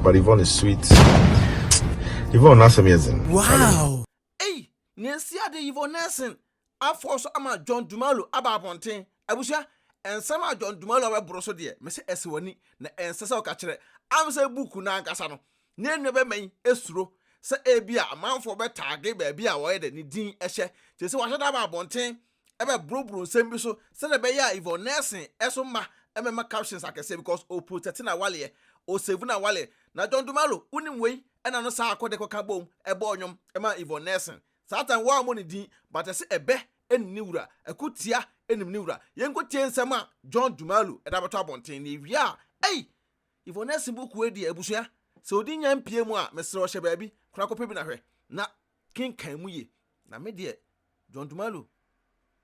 But Yvonne is sweet. Yvonne n'asɛm yɛ dzen. Wow! Ei, nea esi ade yi Yvonne Nelson afɔw so ama John Dumalo aba abɔnten. Abusua, nsɛm a John Dumalo abɛboro so deɛ, mese ɛsɛ w'ani, na ɛnsɛ sɛ woka kyerɛ. Am sɛ book no ankasa no, ne nuabɛma yi suro sɛ ebia amanfoɔ bɛtaage baabi a wɔyɛ dɛ ne din hyɛ, kyerɛ sɛ wɔahyɛ da aba abɔnten. ɛbɛbrobro nsɛm bi so sɛdeɛ ɛbɛyɛ a Yvonne Nelson nso mma ɛmmɛma captions akɛseɛ because ɔprotɛte n'awaleɛ, ɔsave n'awaleɛ. Na John Dumalo, wonim wei, ɛna no saa akɔ de kɔka boom bɔɔ nnwom maa Yvonne Nelson. Saa time wɔammɔ ne din but ɛse ɛbɛ nim ne wura, ɛko tia nim ne wura. Yɛnkɔtie nsɛm a John Dumalo de abɛto abɔnten na yɛwie a ei! Yvonne Nelson book wei deɛ abusua, sɛ ɔde nya mpie mu a mesrɛ wo hyɛ baabi kora kɔpɛ bi na hwɛ na kenkan mu ye. Na me deɛ John Dumalo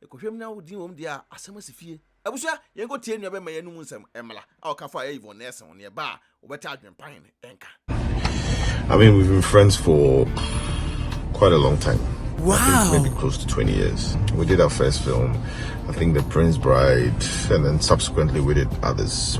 ɛkɔhwɛm na wodin wɔm deɛ a asɛm asi fie. Abusua yɛn kɔ tie nua bɛma yɛn no mu nsɛm ɛmla a ɔka fa yɛ Yvonne Nelson ho ne ɛba a wobɛte adwen pa hen ɛnka. I mean we've been friends for quite a long time. Wow. I think maybe close to 20 years. We did our first film, I think The Prince Bride, and then subsequently we did others.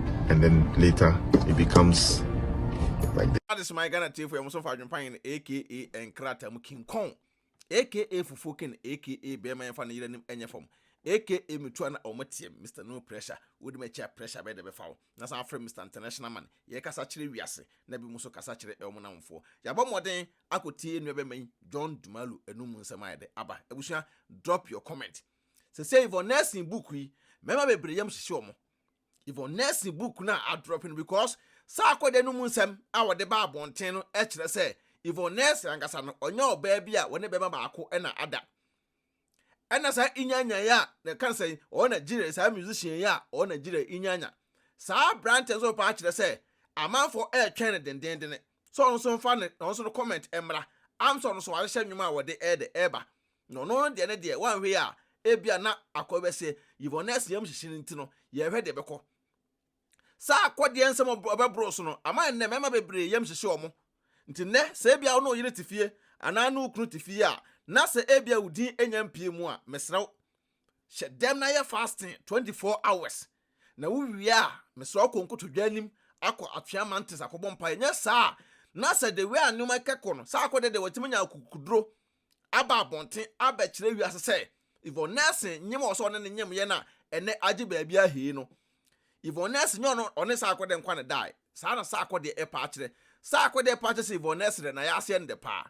and then later it becomes like this. Adis my Ghana tiefo ya muso fa adwempa yin aka nkrata mu kinkon aka fufuo kin aka bɛrima yɛn fa ne yere nim ɛnyɛ fam aka metua na ɔmo teɛ Mr No Pressure wodi ma kyia pressure bɛyɛ dɛ bɛfa wo na san afrɛ Mr International Man yɛ kasa kyerɛ wiase na bi mu so kasa kyerɛ ɛwɔ mo namfoɔ yɛabɔ mmɔden akɔ tie nnua bɛma yi John Dumalu ɛnu mu nsɛm ayɛ dɛ aba abusua drop your comment sɛsɛ yi for nursing book yi mɛma bebree yam hyehye ɔmo Yvonne Nelson book no a adrɔpe no because saa akɔda no mu nsɛm a wɔde ba abɔnten no kyerɛ sɛ Yvonne Nelson ankasa no ɔnyɛ ɔbaa bi a wɔne bɛma baako na ada. Ɛna saa inyanyan yi a na ɛka sɛ ɔwɔ Nigeria saa musician yi a ɔwɔ Nigeria inyanya. Saa aberante nso paa kyerɛ sɛ amanfoɔ ɛretwɛn no dendenden sɛ ɔno nso mfa ne ɔno nso no comment mmra am sɛ ɔno nso wahyehyɛ nnwom a wɔde ɛde ɛreba Na ɔno deɛ ne deɛ, wanhwɛ yi a, ebia na akɔ bɛsɛ Yvonne asiam hyehye no nti no, yɛrehwɛ deɛ ɛbɛkɔ. Saa akɔdeɛ nsɛm a ɔbɛboro so no, ama nnɛ mmarima bebree yam hyehye wɔn. Nti nnɛ, sɛ ebia wo ne wo yere te fie anaa wo ne wo kunu te fie a, na sɛ ebia wo din nnya mpue mu a, mesrɛ wo, hyɛ dɛm na yɛ fasting 24 hours. Na wowie a, mesrɛ wo kɔ nkotodwe anim akɔ Atwea Mountains akɔbɔ mpaeɛ. Nyɛ saa a, na sɛ the way a nneɛma kɛkɔ no, saa akɔdeɛ deɛ watumi anya akokoduro. aba abɔnten abɛkyerɛ wiase sɛ Yvonne Nelson nyem wɔ sɛ ɔne no nyem yɛ na ɛnɛ agye baabi ahee no. Yvonne Nelson nyɛ ɔno ɔne Saako dɛ nkwa na ɛdae. Saa na Saako deɛ ɛpa akyerɛ. Saako deɛ ɛpa akyerɛ sɛ Yvonne Nelson dɛ nayɛ aseɛ no dɛ paa.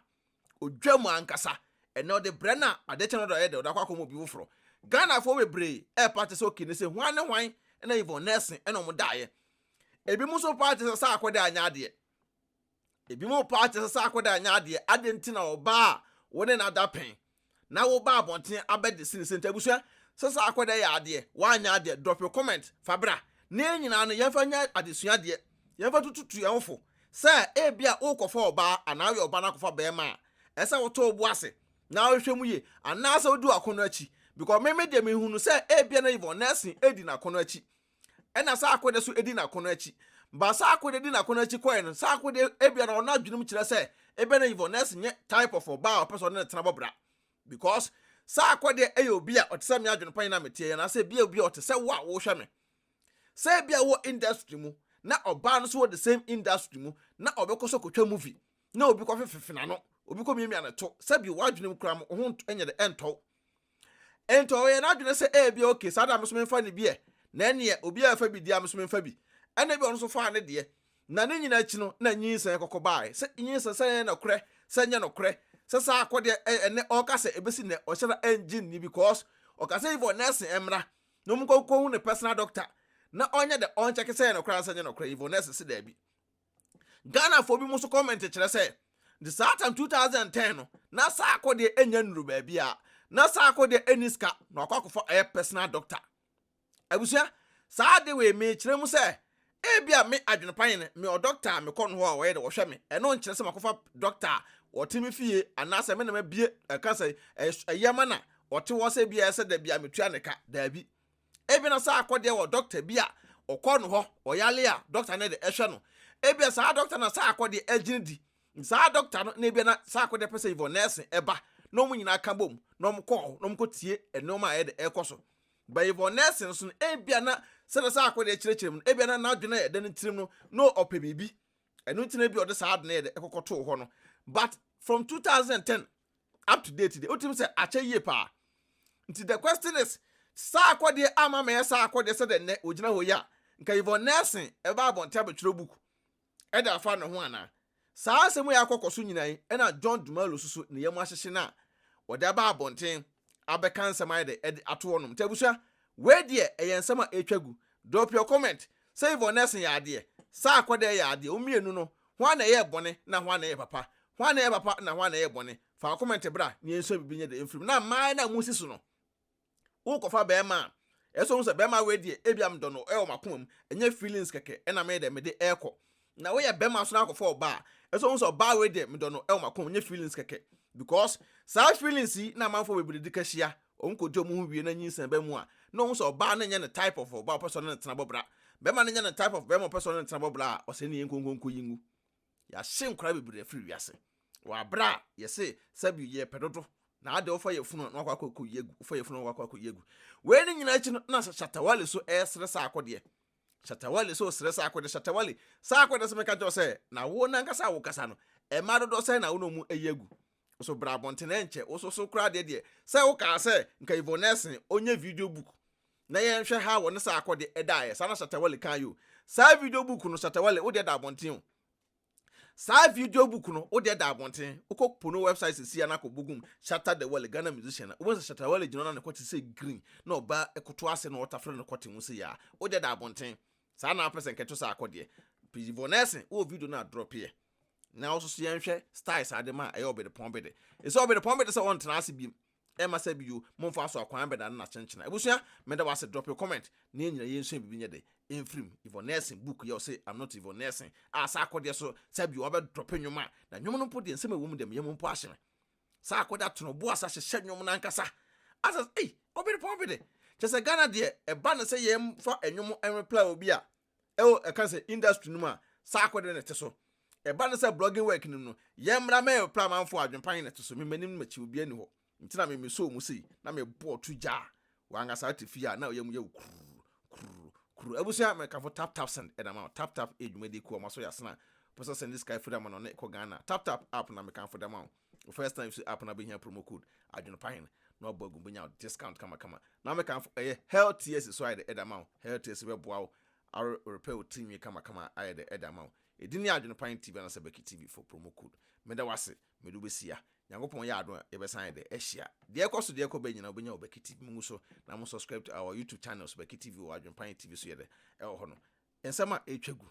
Odwa mu ankasa. Ɛnɛ ɔde brɛ no a adeɛ kyɛ no ɔde ɔyɛ dɛ ɔde akɔ akɔma obi foforɔ. Ghanafoɔ bebree ɛpa akyerɛ sɛ okay ne sɛ hwan ne hwan na Yvonne Nelson ɛna ɔmo daeɛ. Ebinom nso pa akyerɛ sɛ Saako dɛ anyɛ adeɛ. Ebinom paa te sɛ sɛ akɔda nyɛ adeɛ. Adɛn nti na ɔbaa a wo ne no ada pɛn na woba abɔnten abɛgye sini sɛ nti? Abusua, sɛ sɛ akɔda yɛ adeɛ, woanyɛ adeɛ, drop your comment, fa bra. Na yɛn nyinaa no, yɛmfa nyɛ adesua deɛ. Yɛmfa ntututu yɛn ho fo sɛ ebia worekɔfa ɔbaa anaa woyɛ ɔbaa na akɔfa barima a, ɛsɛ sɛ wotɔ wo bo ase na wohwehwɛ mu yie anaasɛ wodi w'akɔnnɔ akyi. Because me me deɛ, mehu no sɛ ebia na Yvonne Nelson redi n'akɔnnɔ akyi. Ɛna saa akode so di n'akono akyi. Ba saa akode di n'akono akyi kɔe no, saa akode ebia na ɔno adwene mu kyerɛ sɛ ebia na Yvonnes nyɛ type of ɔbaa a ɔpɛ sɛ ɔne no tena bɔ bra. Because saa akode yɛ obi a ɔte sɛ me adwene pa yi na meteɛ yi anaasɛ ebia obi a ɔte sɛ wo a wohwɛ me. Sɛ ebia wowɔ industry mu na ɔbaa no nso wɔ the same industry mu na ɔbɛkɔ so kɔtwa movie na obi kɔfefefe n'ano, obi kɔmiamia ne to, sɛbi w'adwene mu koraa mo ho nyɛ de ɛntɔ wo. Enti ɔyɛɛ n'adwene sɛ ebia okay, saa na me nso memfa ne bi ɛ, na ɛnneɛ obiara refa bi deɛ a me nso memfa bi. Ɛnna ebia ɔno nso faa ne deɛ. Na ne nyinaa akyi no, na nyinsɛn kɔkɔ baeɛ. Sɛ nyinsɛn, sɛ ɛyɛ nokorɛ, sɛ ɛnyɛ nokorɛ, sɛ saa akɔdeɛ ɛ, ɛnnɛ ɔka sɛ ɛbɛsi nnɛ, ɔhyɛ da ɛnngye nni because ɔka sɛ Yvonne nɛɛse mmra na wɔnkɔ nkɔhu ne personal doctor na ɔnyɛ dɛ, ɔnkyɛke sɛ ɛyɛ nokorɛ anaa sɛ ɛnyɛ nokorɛ, Yvonne nɛɛse se daabi. Ghanafoɔ binom nso kɔmɛnte kyerɛ sɛ, de saa tam 2010 no, na Saako deɛ ɛnnya nnuru baabiara. Na Saako deɛ ɛnni sika na wakɔ akɔfa ɔyɛ personal doctor. Abusua, saa ade wei mekyerɛ mu sɛ, ebi a me adwenepa yɛ no, mewɔ doctor a mekɔ no hɔ a ɔyɛ dɛ ɔhwɛ me. Ɛno nkyerɛ sɛ makɔfa doctor a ɔte me fie anaasɛ me na mabue ɛka sɛ ɛyɛ ma na ɔte hɔ sɛ ebi a ɛsɛ da bi a metua ne ka. Daabi. Ebia na saa akɔdeɛ wɔ dɔkta bi a ɔkɔ no hɔ, ɔyale a dɔkta no de ɛhwɛ no. Ebia saa dɔkta na saa akɔdeɛ agyina di. Saa dɔkta no na ebia na saa akɔdeɛ pɛ sɛ Yvonne Nelson ɛba na wɔn nyinaa ka bom na wɔn kɔ hɔ na wɔn kɔtie nneɛma a ɛde ɛkɔ so. Ba Yvonne Nelson nso no, ebia na sɛdeɛ saa akɔdeɛ kyerɛkyerɛ mu no, ebia na n'adwene a ɛda ne tirim no na ɔpɛ biribi. Ɛno nti na ebia ɔde saa ade no yɛ de ɛkɔkɔtoo hɔ no. But from 2010, up to date deɛ wotumi sɛ akyɛ yie paa nti the question is saa akɔdeɛ ama mɛyɛ saa akɔdeɛ sɛ dɛ nnɛ ogyina hɔ yi a nka yvon nelson ɛba abɔnten abɛtwerɛ book ɛde afa ne ho anaa saa asɛm yi akɔkɔ so nyinaa yi ɛna john dumalo so so ne yam ahyehye no a wɔde aba abɔnten abɛka nsɛm ayɛ dɛ ɛde ato hɔnom nti abusua wei deɛ ɛyɛ nsɛm a ɛtwa gu drop your comment Sɛ Yvonnesse yɛ adeɛ, Sarkodie yɛ adeɛ, wɔn mmienu no, hwan na ɛyɛɛ bɔne na hwan na ɛyɛ papa? Hwan na ɛyɛ papa na hwan na ɛyɛ bɔne? Fa wo comment bra na yɛnsua biribi nyɛ dɛ mfiri mu. Na mmaa yi no a mosi so no, worekɔfa barima a, ɛsɛ sɛ wohu sɛ barima wei deɛ, ebia medɔ no, ɛwɔ m'akoma mu, ɛnyɛ feelings kɛkɛ na meyɛ dɛ mede rekɔ. Na wo yɛ bɛma so na akɔfa ɔbaa a so wohu sɛ ɔbaa wei deɛ medɔ no ɛwɔ makɔm nyɛ feelings kɛkɛ because saa feelings yi na amanfoɔ bebree de ka hyia ɔmo kɔdi ɔmo ho wie na nyinsɛn ba mu a na ɔhu sɛ ɔbaa no nyɛ ne type of ɔbaa ɔpɛ sɛ ɔne no tena bɔ bra bɛma no nyɛ ne type of bɛma ɔpɛ sɛ ɔne no tena bɔ bra a ɔsɛ ne yɛn nkonkonko yi ngu yɛahye nkora bebree afiri wiase wɔ abere a yɛse sɛbi yɛ pɛ dodo na ade wofa yɛ funu na wakɔ akɔ akɔ yi agu wofa yɛ funu na wakɔ akɔ yi agu wei ne nyinaa akyi no na shatawale so ɛresere saa akɔdeɛ Shatta Wale nso resrɛ saa akode. Shatta Wale, Saa akode sɛ meka nkyerɛ wo sɛ, na wo nankasa a wokasa no, mmaa dodoɔ sɛn na wo ne wɔn ayi agu? Wo nso bra abɔnten ɛnkyɛ, wo nso so koraa deɛ deɛ sɛ wokaa sɛ nka Yvonne Nelson ɔnyɛ video book na yɛnhwɛ how wɔne saa akode daeɛ, saa na Shatta Wale kaeɛ o. Saa video book no, Shatta Wale, wo deɛ da abɔnten o. Saa video book no wo deɛ da abɔnten wokɔ po no website sisi a na akɔ bogum Shatta the Wale Ghana musician a wobɛhu sɛ Shatta Wale gyina hɔ na ne kɔte sɛ green na ɔba koto ase na ɔtafere ne kɔte ho sei a wo deɛ da abɔnten saa na wopɛ sɛ nkɛto saa akɔ deɛ pii Von Elsen wowɔ video no a drɔpeɛ na wo soso yɛnhwɛ style saa de ma a ɛyɛ ɔbedepɔn bede ɛsɛ ɔbedepɔn bede sɛ ɔntena ase biem Ɛma sɛ bio momfa so akwan bɛda no na kyenkyena abusua meda wo ase drop your comment na yɛn nyina yɛnsua biribi nyɛ dɛ ɛmfirim Yvonne Nelson book yɛ ɔse I'm not Yvonne Nelson a saa akɔdeɛ so saa bio wabɛ drop nnwom a na nnwom no mpo deɛ nsɛm a ɛwɔ mu deɛ me yam mpo ahye me saa akɔdeɛ atono bo asa hyehyɛ nnwom no ankasa asas ei ɔberepɔn bede kyerɛ sɛ Ghana deɛ ɛba no sɛ yɛmfa nnwom nreply obi a ɛwɔ ɛka sɛ industry no mu a saa akode no te so. Ɛba no sɛ blogging work no mu no, yɛn mmra mɛ reply amanfoɔ a adwenpa he na ɛte so, me m'anim ne m'akyi obiaa nni hɔ nti na me me soo mu sei na me bɔɔ tu gyaa wɔn ankasaa te fie a na ɔyam yɛ wo kurr kurr kurr abusua me kamfo tap tap send ɛna ma tap tap yɛ dwumadie kuo a wɔn asɔ yɛ asena pɛ sɛ ɔsɛnde sika afiri ama no ne ɛkɔ Ghana tap tap app na me kamfo de ama wo. Wo first time so app no bɛhia promo code adwenepahene na wabɔ agu bɛnya discount kamakama. Na meka nfo ɛyɛ Health Tears so ayɛ dɛ ɛde ama wo. Health Tears bɛboa wo are repair wo tirinwi kamakama ayɛ dɛ ɛde ama wo. Ɛdin ne Adwenepahene TV anaasɛ Becky TV for promo code. Meda wo ase, mede wo bɛsia. Nyankopɔn yɛ adom a yɛbɛsan ayɛ dɛ ahyia. Deɛ ɛkɔ so deɛ ɛkɔ bɛ nyinaa wobɛnya wɔ Becky TV. Mongu so na mo subscribe to our YouTube channels Becky TV wɔ Adwenepahene TV so yɛ dɛ ɛwɔ hɔ no. Nsɛm a ɛretwa gu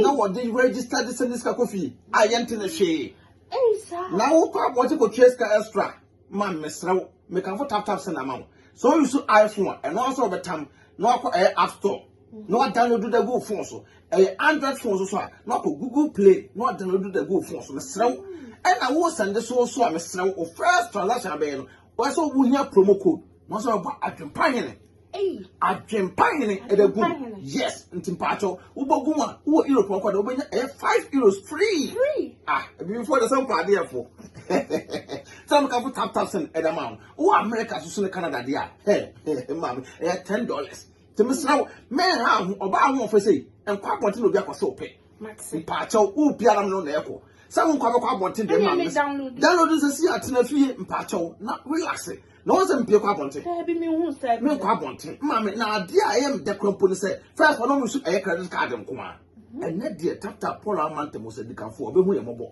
na wɔde register de sɛ ne sika kɔ fie a yɛnte ne hwee na wokɔ abɔgye kɔtua sika extra ma mesrɛ wo mekamfo tap tap sɛ na ama wo sɛ ɔyi so iphone a ɛno asɛ wɔbɛtam na wakɔ ɛyɛ app store na wadownload da gu phone so ɛyɛ android phone so so a na wakɔ google play na wadownload da gu phone so mesrɛ wo ɛna wo sɛnde so so a mesrɛ wo first transaction abɛyɛ no wɔsɛ wohia promo code na wɔsɛ wɔbɔ adwempa hene Adwempa hene ɛbɛ gu yes nti mpaatɔ wobɔ gu a wowɔ europe ɔkɔ de wobɛnya ɛyɛ five euros free ah ebifoɔ de sɛ mpa adeɛ fo sɛ mo kafo tap tap sɛn ɛda ma wo wowɔ america soso ne canada deɛ a hɛ hɛ maame ɛyɛ ten dollars te mesra wo mɛn ha ho ɔbaa ho ɔfɛ sei nkɔ abɔnten na obi akɔ sɛ ɔpɛ mpaatɔ wo biara mo no na ɛkɔ sɛ wo nkɔ abɛkɔ abɔnten deɛ maame download nsɛ si atena fie mpaatɔ na relax na wɔn sɛ mpie kɔ abɔnten menkɔ abɔnten maame na adeɛ a ɛyɛ meda kura mpo ne sɛ fɛs ɔno mu so ɛyɛ credit card nko a mhm. ɛnɛ deɛ taptap paul amanta mu sɛ dikanfoɔ ɔbɛhu yɛ mmɔbɔ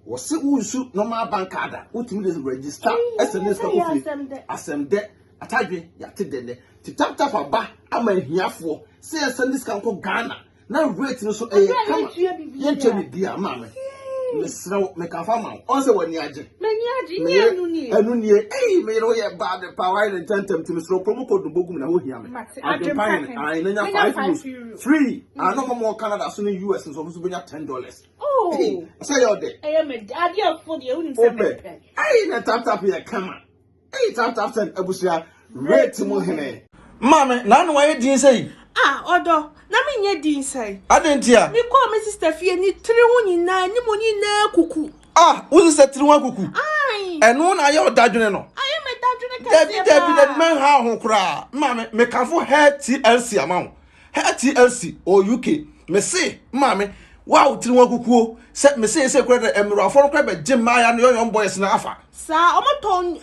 wɔse wonsu normal bank card a wotumi de register ɛsɛ ne sika kofie asɛm dɛ atadwe yɛate dɛ nɛ te taptap aba ama ahiafoɔ sɛ yɛsɛ ne sika nkɔ ghana na rate no so ɛyɛ kama yɛntua biribiara maa me mesrɛ wo meka fa ma wo ɔn sɛ w'ani agye ɛno nie ei meyere woyɛ bad pa woayɛ ne ntɛntɛm nti mesrɛ promo code no bɔgum na wohia me adwempa hene ae na nya 5 euros free ano hɔ mɔ canada so ne us nso ɔmo so bɛnya 10 dollars oh. sɛ yɛ ɔdɛ wopɛ ei na taptap yɛ kama Eii tap tap send abusua rate mu hene. Maame na ano wayɛ din sɛyi. Ah ɔdɔ na me nyɛ din sɛyi. Adɛn ntia. Me kɔɔ me sister fie ne tiri ho nyinaa anim nyinaa akuku. Ah wo sister tiri ho akuku. Aii. Ɛno na ayɛ ɔdadwene no. Ayɛ me dadwene kɛseɛ paa. Dabi dabi dabi mɛnhaw ho koraa. Maame me kamfo hair TLC ama wo. Her TLC wɔ UK, Mese maame wo a wo tiri ho akukuo sɛ me seesei kora dɛ mmerawafoɔ no kora bɛgye mmaaya no yɔyɔm boys no afa. Saa ɔmo tɔn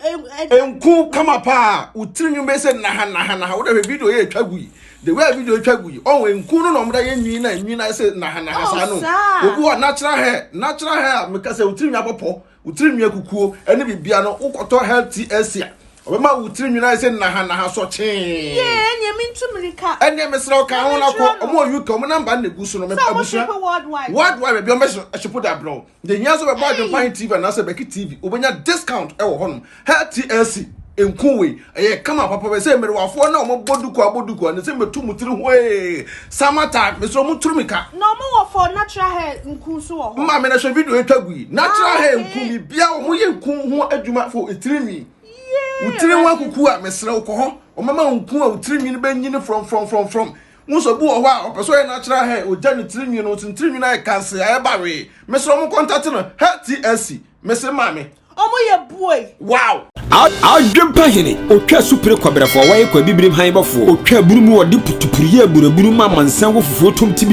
ɛ. Nku kama paa wo tiri nwin bɛyɛ sɛ naha naha naha wo dɛ hwɛ video yɛ twa gu yi the way a video twa gu yi ɔho nku no na ɔmo da yɛ nwin na nwin ayɛ sɛ naha naha saa no obi wɔ natural hair natural hair a meka sɛ wo tiri nwin abɔ pɔ Wo tiri nwi akukuo ne bibia no wo kɔtɔ health TLC a ɔbɛma wo tiri nwi no ayɛ sɛ naha naha sɔ kyee. Yee ɛneɛ me ntu mirika. Ɛneɛ mesrɛ wo ka ho na kɔ ɔmo wɔ UK ɔmo number na egu so no me abusua worldwide worldwide baabi ɔmo bɛ shipo de abrɛ wo. Deɛ hia nso bɛbɔ adwempa he TV anaasɛ bɛki TV wobɛnya discount ɛwɔ hɔnom Her TLC nku wei ɛyɛ kama papa bɛ sɛ mmerewafoɔ na wɔn bɔ duku abɔ duku a ne sɛ mɛtu mu tiri hwee summer time mesɛ wɔn turu mi ka. Na wɔn wɔ for natural hair nku nso wɔ hɔ. Mma mi na hwɛ video etwa gu yi natural ah, hair nku mi bia wɔn yɛ nku ho adwuma fo etiri nwi. Wotiri ho akuku a mesrɛ wokɔ hɔ wɔn ama nku a wotiri nwi no bɛ nyini from from from from. Wosɔ bu wɔ hɔ a ɔpɛ sɛ ɔyɛ natural hair ogya ne tiri nwi no nso ne tiri nwi no ayɛ kanse ayɛ bawee mesrɛ wɔn kɔntate no hair TLC. mese maame. Ɔmo yɛ buoi. Wow. Adwempa hene otwa supire kɔbrɛfoɔ wɔyɛ kɔ abibirim han bɔfoɔ otwa aburu mu wɔde putupuruyɛ aburaburu ma mansan wɔ fufuo tom ti bi